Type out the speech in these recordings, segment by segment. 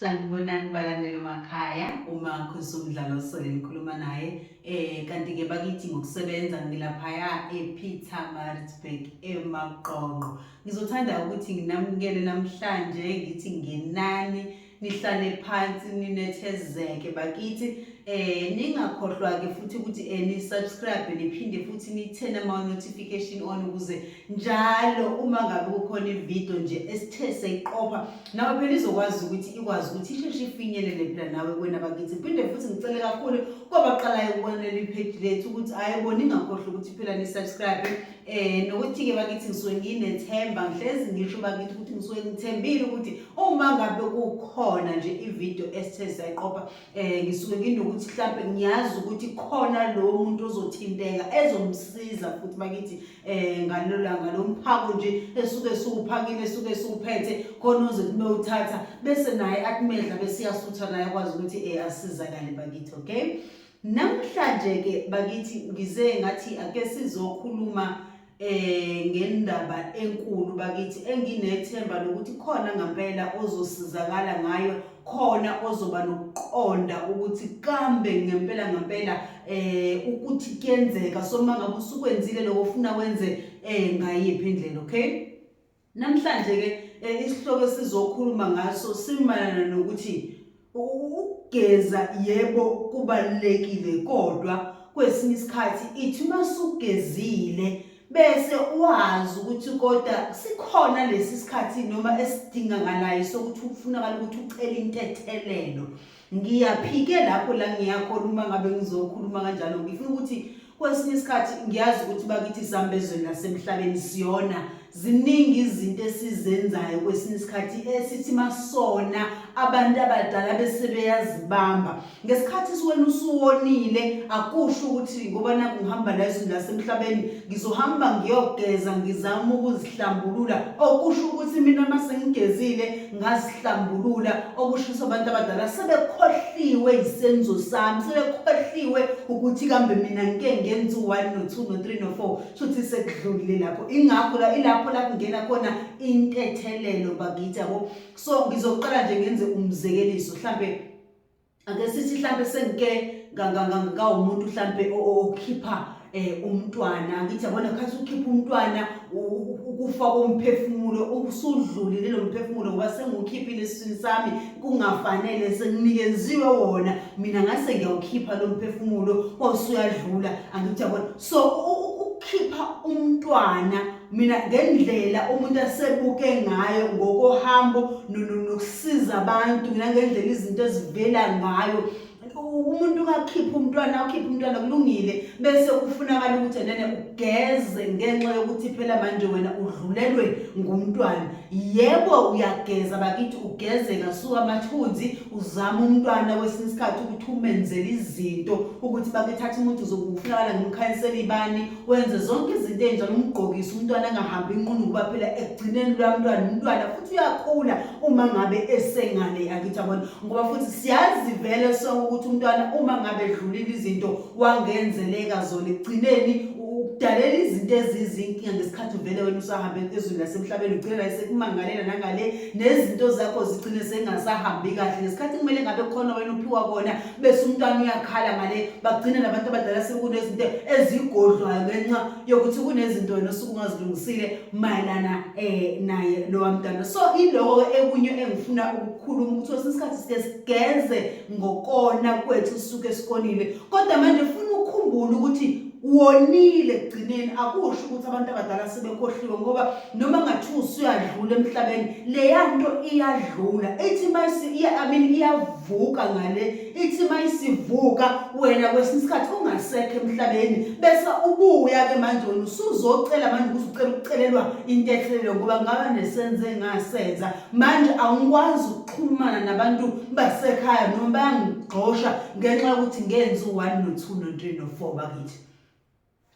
sanibonani balandeli makhaya uma khonisa umdlalo osole ngikhuluma naye um kanti-ke bakithi ngokusebenza ngilaphaya epeter maritzburg emaqonqo ngizothanda ukuthi nginamukele namhlanje ngithi ngenani nihlale phansi ninethezeke bakithi eh ningakhohlwa ke futhi ukuthi eh ni subscribe niphinde futhi nithene ama notification on ukuze njalo uma ngabe kukhona ivideo nje esithe seyiqopha nawe phela izokwazi ukuthi ikwazi ukuthi isheshe ifinyelele phela nawe kwena bakithi phinde futhi ngicele kakhulu kwabaqalayo ukubona leli page lethu ukuthi ayiboni ngakhohlwa ukuthi phela ni subscribe eh nokuthi-ke bakithi ngisuke nginethemba ngihlezi ngisho bakithi ukuthi ngisuke ngithembile ukuthi uma ngabe kukhona nje ividiyo esithe sayiqopha um ngisuke nginokuthi mhlawumpe ngiyazi ukuthi khona lowo muntu ozothinteka ezomsiza futhi bakithi um ngalolanga lo mphako nje esuke siwuphakile esuke siwuphethe khona ozothi bewuthatha bese naye akumedla besiyasutha naye akwazi ukuthi um asizakale bakithi okay Namhlanje ke bakithi ngize ngathi ake sizokhuluma eh ngendaba enkulu bakithi enginethemba lokuthi khona ngempela ozosizakala ngayo khona ozoba nokuqonda ukuthi kambe ngempela ngempela eh ukuthi kuyenzeka soma ngabe usukwenzile lokho ufuna wenze eh ngayiphi indlela okay Namhlanje-ke eh, isihloko esizokhuluma ngaso simayelana nokuthi ukugeza yebo kubalulekile kodwa kwesinye isikhathi ithi uma sugezile bese wazi ukuthi kodwa sikhona lesi sikhathi noma esidingakalayo sokuthi kufunakala ukuthi ucele intethelelo ngiyaphike lapho la ngiyakhona uma ngabe ngizokhuluma kanjalo ngifuna ukuthi kwesinye isikhathi ngiyazi ukuthi bakithi sihamba ezweni lasemhlabeni siyona ziningi izinto esizenzayo kwesinye isikhathi esithi masona abantu abadala bese beyazibamba ngesikhathi siwena usuwonile akusho ukuthi ngoba nakungihamba la ezweni lasemhlabeni ngizohamba ngiyogeza ngizama ukuzihlambulula okusho ukuthi mina uma sengigezile ngazihlambulula okusho ukuthi abantu abadala sebekhohliwe yisenzo sami sebekhohliwe ukuthi kambe mina ngike ngenza u-one no-two no-three no-four shuthi sekudlulile lapho ingakho la ilapho la kungena khona intethelelo bakithi yabo so ngizoqala nje ngenze umzekeliso mhlampe ake sithi mhlampe sengike ngawumuntu mhlampe okhipha eh umntwana ngithi yabona khathi ukhipha umntwana ukufa komphefumulo ukusudlulile lo mphefumulo ngoba sengukhiphile esiswini sami kungafanele senginikenziwe wona mina ngase ngiyawukhipha lo mphefumulo osuyadlula angithi yabona so ukukhipha umntwana mina ngendlela umuntu asebuke ngayo ngokohambo nokusiza abantu mina ngendlela izinto ezivela ngayo umuntu ungakhipha umntwana ukhipha umntwana kulungile bese kufunakala ukuthi enene ugeze ngenxa yokuthi phela manje wena udlulelwe ngumntwana yebo uyageza bakithi ugeze ngasuka amathunzi uzama umntwana kwesinye isikhathi ukuthi umenzele izinto ukuthi bakuthatha umuntu uzokufunakala ngimkhanyisela ibani wenze zonke izinto enjalo umgqokise umntwana angahambi inqunu ngoba phela ekugcineni lwamntwana umntwana futhi uyakhula uma ngabe esengane yakithi abona ngoba futhi siyazi vele sonke ukuthi umntwana uma ngabe edlulile izinto wangenzeleka zona ekugcineni udalela izinto ezizinkinga ngesikhathi uvele wena usahambe ezweni lasemhlabeni ugcine la sekumangalela nangale nezinto zakho zigcine sengasahambi kahle ngesikhathi kumele ngabe khona wena uphiwa kona bese umntwana uyakhala ngale bagcina nabantu abadala sekunezinto ezigodlwayo ngenxa yokuthi kunezinto wena osuke ungazilungisile mayelana um naye lowa mntwana so iloko ekunye engifuna ukukhuluma ukuthi kwesinye isikhathi sike sigeze ngokona kwethu suke sikonile kodwa manje funa ukukhumbula ukuthi wonile ekugcineni akusho ukuthi abantu abadala sebekhohliwe ngoba noma ngathiwa usuyadlula emhlabeni leya nto iyadlula ithi mayisi iya I mean iyavuka ngale ithi mayisivuka wena kwesinye isikhathi ungasekho emhlabeni bese ubuya ke manje wena usuzocela manje ukuthi ucela ukucelelwa intethelelo ngoba ngaba nesenze ngasenza manje awungikwazi ukuxhumana nabantu basekhaya noma bayangigxosha ngenxa yokuthi ngenzi u-1 no-2 no-3 no-4 bakithi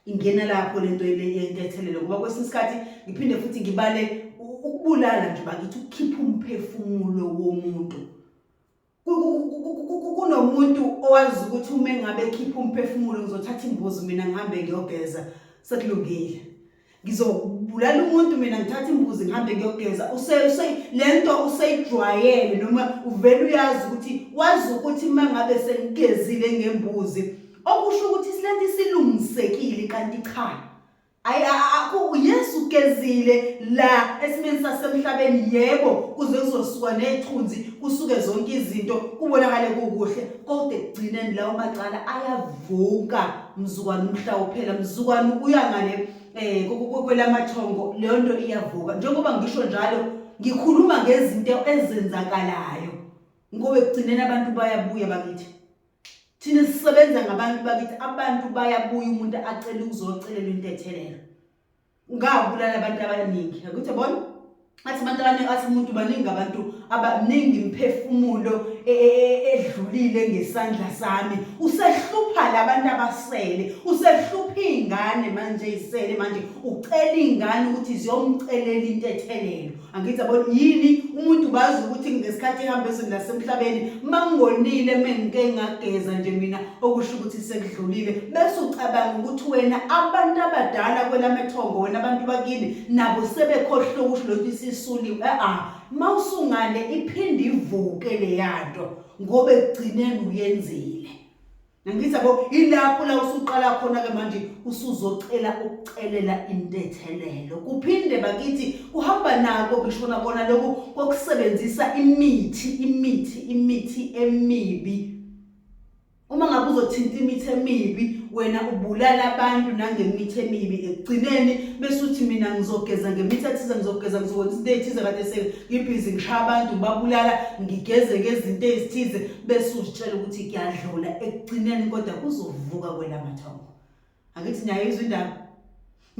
ingena lapho lento yentethelelo ngoba kwesinye isikhathi ngiphinde futhi ngibale ukubulala nje bakithi ukukhipha umphefumulo womuntu kunomuntu owazi ukuthi uma engabe ekhipha umphefumulo ngizothatha imbuzi mina ngihambe ngiyogeza sekulungile ngizobulala umuntu mina ngithatha imbuzi ngihambe ngiyogeza le nto useyijwayele noma uvele uyazi ukuthi wazi ukuthi uma ngabe sengigezile ngembuzi okusho ukuthi silento isilungisekile kanti cha yesu ugezile la esimeni sasemhlabeni yebo kuze kuzosuka nethunzi kusuke zonke izinto kubonakale kukuhle kodwa ekugcineni lawo macala ayavuka mzukwane umhla uphela mzukwane uya ngale eh kwelamathongo leyo nto iyavuka njengoba ngisho njalo ngikhuluma ngezinto ezenzakalayo ngoba ekugcineni abantu bayabuya bakithi thina sisebenza ngabantu bakithi abantu bayabuya umuntu acela ukuzocelelwa intethelelo ungabulala abantu abaningi akuthi bona athi abantu abaningi athi umuntu baningi abantu abaningi imphefumulo e, e, e, edlulile ngesandla sami usehlupha labantu abasele usehlupha izingane manje izisele manje ucela izingane ukuthi ziyomcelela into ethelelo angithi yabona yini umuntu bazi ukuthi ngesikhathi ehamba ezweni lasemhlabeni mangonile mengike ngageza nje mina okusho ukuthi sekudlulile bese ucabanga ukuthi wena abantu abadala kwelamethongo wena abantu bakini nabo sebekhohlwe ukuthi lokhu isisuliwe a-a mawusungane iphinde ivuke leyanto ngoba ekugcineni uyenzile Nangithi yabo ilapho la usuqala khona ke manje usuzocela ukucelela intethelelo. Kuphinde bakithi kuhamba nako kishona kona lokhu kokusebenzisa imithi imithi imithi emibi. Uma ngabe uzothinta imithi emibi wena ubulala abantu nangemithi emibi ekugcineni bese uthi mina ngizogeza ngemithi ethize ngizogeza ngizokwenza izinto ezithize kade sengibhizi ngishaya abantu ngibabulala ngigeze ngezinto ezithize bese uzitshela ukuthi kuyadlula ekugcineni kodwa kuzovuka kwelamathongo angithi niyayizwa indaba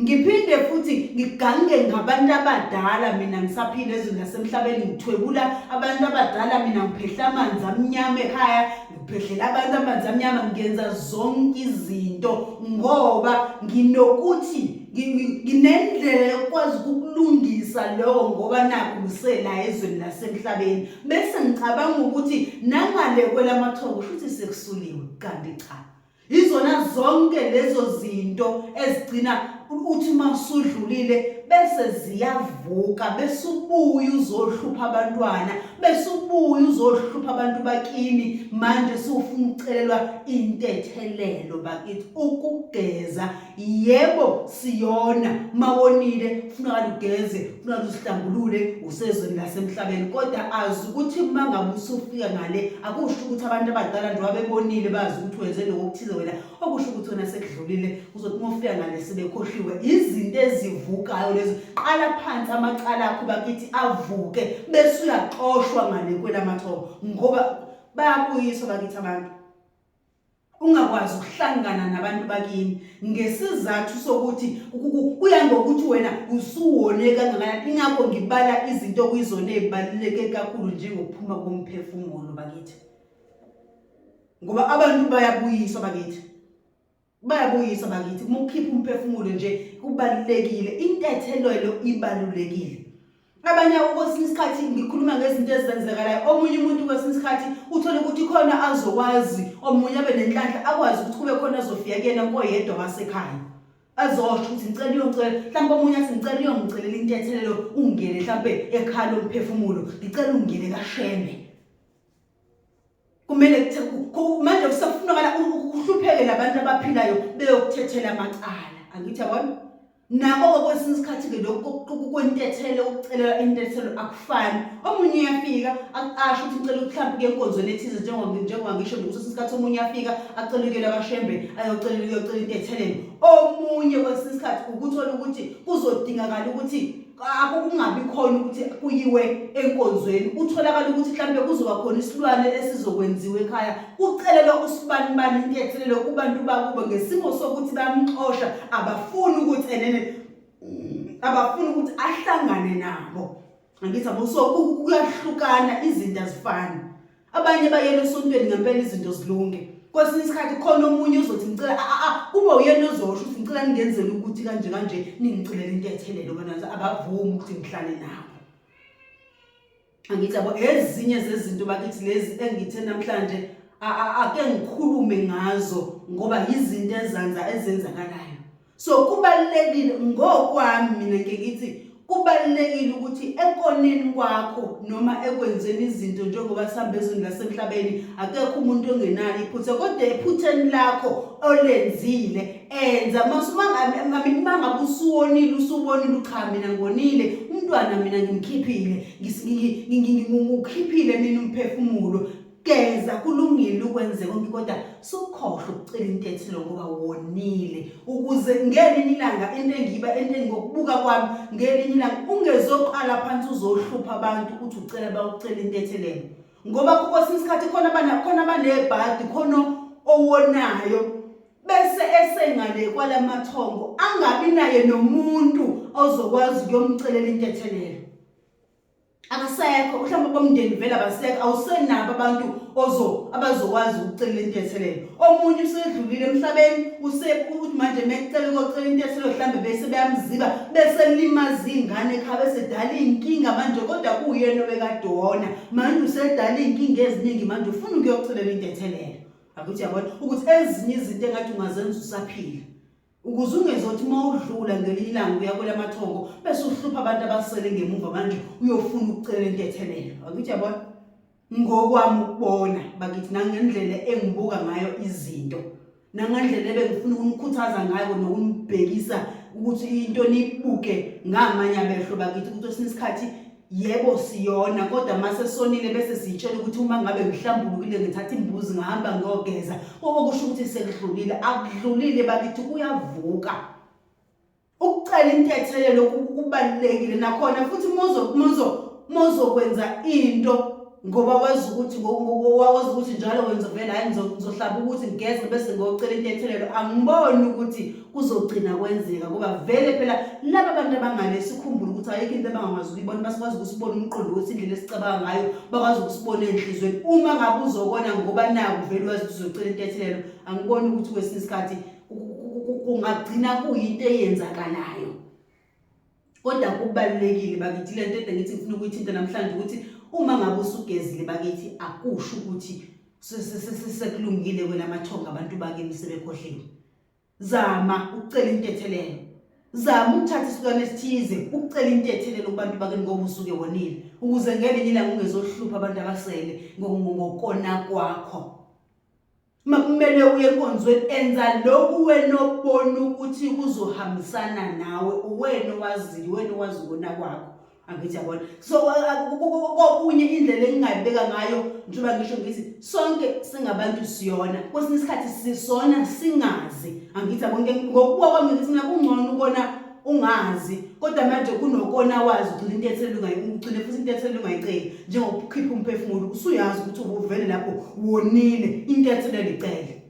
ngiphinde futhi ngigange ngabantu abadala mina ngisaphila ezweni lasemhlabeni ngithwebula abantu abadala mina ngiphehla amanzi amnyama ekhaya ngiphehlela abantu amanzi amnyama ngiyenza zonke izinto ngoba nginokuthi nginendlela yokwazi ukulungisa lokho ngoba nakho ngisela ezweni lasemhlabeni bese ngicabanga ukuthi nangale kwelamathongo futhi sekusuliwe kanti cha izona zonke lezo zinto ezigcina uthi masudlulile bese ziyavuka besubuya uzohlupha abantwana besubuya uzohlupha abantu bakini manje sufuna ucelelwa intethelelo bakithi ukugeza yebo siyona mawonile kufuneka lugeze kufuneka lusihlambulule usezweni lasemhlabeni kodwa azi ukuthi uma ngabe usufika ngale akusho ukuthi abantu abadala njengoba bebonile bazi ukuthi wenze lokho okuthize wena okusho ukuthi wena sekudlulile uzothi uma ufika ngale sebekhohliwe izinto ezivukayo lezo qala phansi amacala akho bakithi avuke bese uyaxoshwa ngale kwelamathobo ngoba bayabuyiswa bakithi abantu ungakwazi ukuhlangana nabantu bakini ngesizathu sokuthi kuya ngokuthi wena usuwone kangakanani ingakho ngibala izinto okuyizona ey'baluleke kakhulu njengokuphuma komphefumulo bakithi ngoba abantu bayabuyiswa bakithi bayabuyiswa bakithi uma ukhipha umphefumulo nje kubalulekile intethelelo ibalulekile abanye kwesinye isikhathi ngikhuluma ngezinto ezenzekalayo omunye umuntu kwesinye isikhathi uthole ukuthi khona azokwazi omunye abe nenhlanhla akwazi ukuthi kube khona azofika kuyena koyedwa wasekhaya azosho ukuthi ngicela uyongicela mhlawumbe omunye athi ngicela uyongicelela intethelelo ungene mhlawumbe ekhala lomphefumulo ngicela ungene kashembe kumele manje kusafunakala uhlupheke labantu abaphilayo beyokuthethela amacala angithi yabona nako-ke kwesinye isikhathi-ke lokhu kwentethelo ukucelela intethelo akufani omunye uyafika asho ukuthi ngicela ukuhlampe kuye enkonzweni ethize njengoba ngisho nje kusesinye isikhathi omunye uyafika acela ukuyela kashembe ayocelela uyocela intethelen omunye kwesinye isikhathi ukuthola ukuthi kuzodingakala ukuthi akho kungabi khona ukuthi kuyiwe enkonzweni utholakala ukuthi mhlawumbe kuzoba khona isilwane esizokwenziwa ekhaya kucelelwa usibanibani intethelelo kubantu bakubo ngesimo sokuthi bamxosha abafuni ukuthi enene abafuni ukuthi ahlangane nabo angithi abuso kuyahlukana izinto azifani abanye bayela esontweni ngempela izinto zilunge kwesinye isikhathi khona omunye uzothi ngicela aa ah, ah, ah, uba uyena ozosho ukuthi ngicela ningenzele ukuthi kanje kanje ningicelela into ethelele obanazo abavumi ukuthi ngihlale nabo angithi yabo ezinye zezinto bakithi lezi engithe namhlanje ake ngikhulume ngazo ngoba yizinto ezanza ezenzakalayo so kubalulekile ngokwami mina ngike ngithi kubalulekile ukuthi ekoneni kwakho noma ekwenzeni izinto njengoba sihamba ezweni lasemhlabeni akekho umuntu ongenalo iphutha kodwa ephutheni lakho olenzile enza mangabe usuwonile usubonile ucha mina ngonile umntwana mina ngimkhiphile ngikhiphile mina umphefumulo geza kulungile ukwenze konke kodwa sukhohle ukucela into ethi lo ngoba wonile ukuze ngelinye ilanga into engiba into engokubuka kwami ngelinye ilanga ungezoqala phansi uzohlupha abantu ukuthi ucela bawucela into ethelene ngoba kwesinye isikhathi khona abana khona abanebhadi khona owonayo bese esengale kwalamathongo angabi naye nomuntu ozokwazi ukuyomcelela into ethelene akasekho mhlawumbe bomndeni vele abasekho awusenabo abantu ozo abazokwazi ukucelela into yethelelo omunye usedlulile emhlabeni usekuthi manje mekucela ukocela into yethelelo mhlawumbe bese beyamziba bese limaza ingane ekhaya bese dala inkinga manje kodwa kuyena obekadona manje usedala inkinga eziningi manje ufuna ukuyocelela into yethelelo akuthi yabona ukuthi ezinye izinto engathi ungazenza usaphila ukuze ungezothi uma udlula ngelinye ilanga uya kwelamathongo bese uhlupha abantu abasele ngemuva manje uyofuna ukucela intethelelo akuthi yabona ngokwami ukubona bakithi nangendlela engibuka ngayo izinto nangendlela ebengifuna ukunikhuthaza ngayo nokunibhekisa ukuthi into nibuke ngamanye amehlo bakithi ukuthi kwesinye isikhathi yebo siyona kodwa mase sonile bese siyitshela ukuthi uma ngabe ngihlambulukile ngithatha imbuzi ngihamba ngiyogeza okusho ukuthi sekudlulile akudlulile bakithi kuyavuka ukucela intethelelo kubalulekile nakhona futhi mozo mozo mozokwenza into ngoba wazi ukuthi wazi ukuthi njalo wenza vele hayi ngizohlaba ukuthi ngigeze bese ngiyocela intethelelo angiboni ukuthi kuzogcina kwenzeka ngoba vele phela laba bantu abangale sikhumbule ukuthi ayikho into abangakwazi ukuyibona basikwazi ukusibona umqondo ukuthi indlela esicabanga ngayo bakwazi ukusibona enhlizweni uma ngabe uzokona ngoba naku vele wazi ukuthi uzocela intethelelo angiboni ukuthi kwesinye isikhathi kungagcina kuyinto eyenzakalayo kodwa kubalulekile bakithi le nto ede ngithi ngifuna ukuyithinta namhlanje ukuthi uma ngabe usugezile bakithi akusho ukuthi sekulungile kwena amathonga abantu bakini sebekhohliwe zama ukucela intethelelo zama ukuthatha isilwane esithize ukucela intethelelo kubantu bakini ngoba usuke wonile ukuze ngelinye ilanga ungezohlupha abantu abasele ngokona kwakho Makumele uye enkonzweni enza lokhu wena obona ukuthi kuzohambisana nawe uwena owaziyo uwena owazi ukona kwakho angithi yabona so kokunye indlela engingayibeka ngayo njengoba ngisho ngithi sonke singabantu siyona kwesinye isikhathi sisona singazi angithi yabona ngokubuka kwami ngithi mina kungcono ukona ungazi kodwa manje kunokona wazi ugcina into ethelelungayigcine futhi into ethelelungayiceli njengokukhipha umphefumulo usuyazi ukuthi ubuvele lapho wonile into etheleluyicele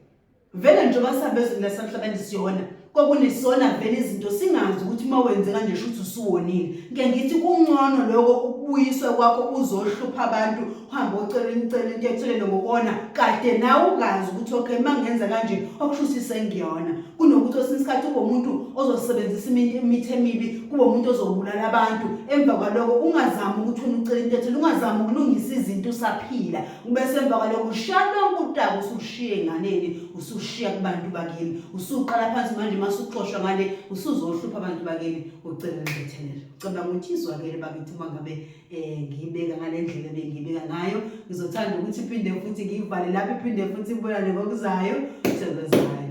vele njengoba sabezweni lasemhlabeni siyona kwakunesona vele izinto singazi ukuthi uma wenze kanje shuthi usuwonile ngiyangithi kungcono lokho ukubuyiswa kwakho uzohlupha abantu uhambe ocela imicela into ethelele ngokona kade nawe ungazi ukuthi okay uma ngenza kanje okushuse isengiyona kunokuthi osinye isikhathi kube umuntu ozosebenzisa imithi emibi kube umuntu ozobulala abantu emva kwaloko ungazami ukuthi ufuna ucela into ethile ungazami ukulungisa izinto usaphila ubese emva kwaloko ushiya lonke utaka usushiye enganeni usushiya kubantu bakini usuqala phansi manje uma suxoshwa ngale usuzohlupha abantu bakini ucela into ethelele cela ukuthi izwakele bakithi uma ngabe eh ngiyibeka ngalendlela bengiyibeka ngayo ngizothanda ukuthi iphinde futhi ngiyivale lapho iphinde futhi ibonane ngokuzayo senzani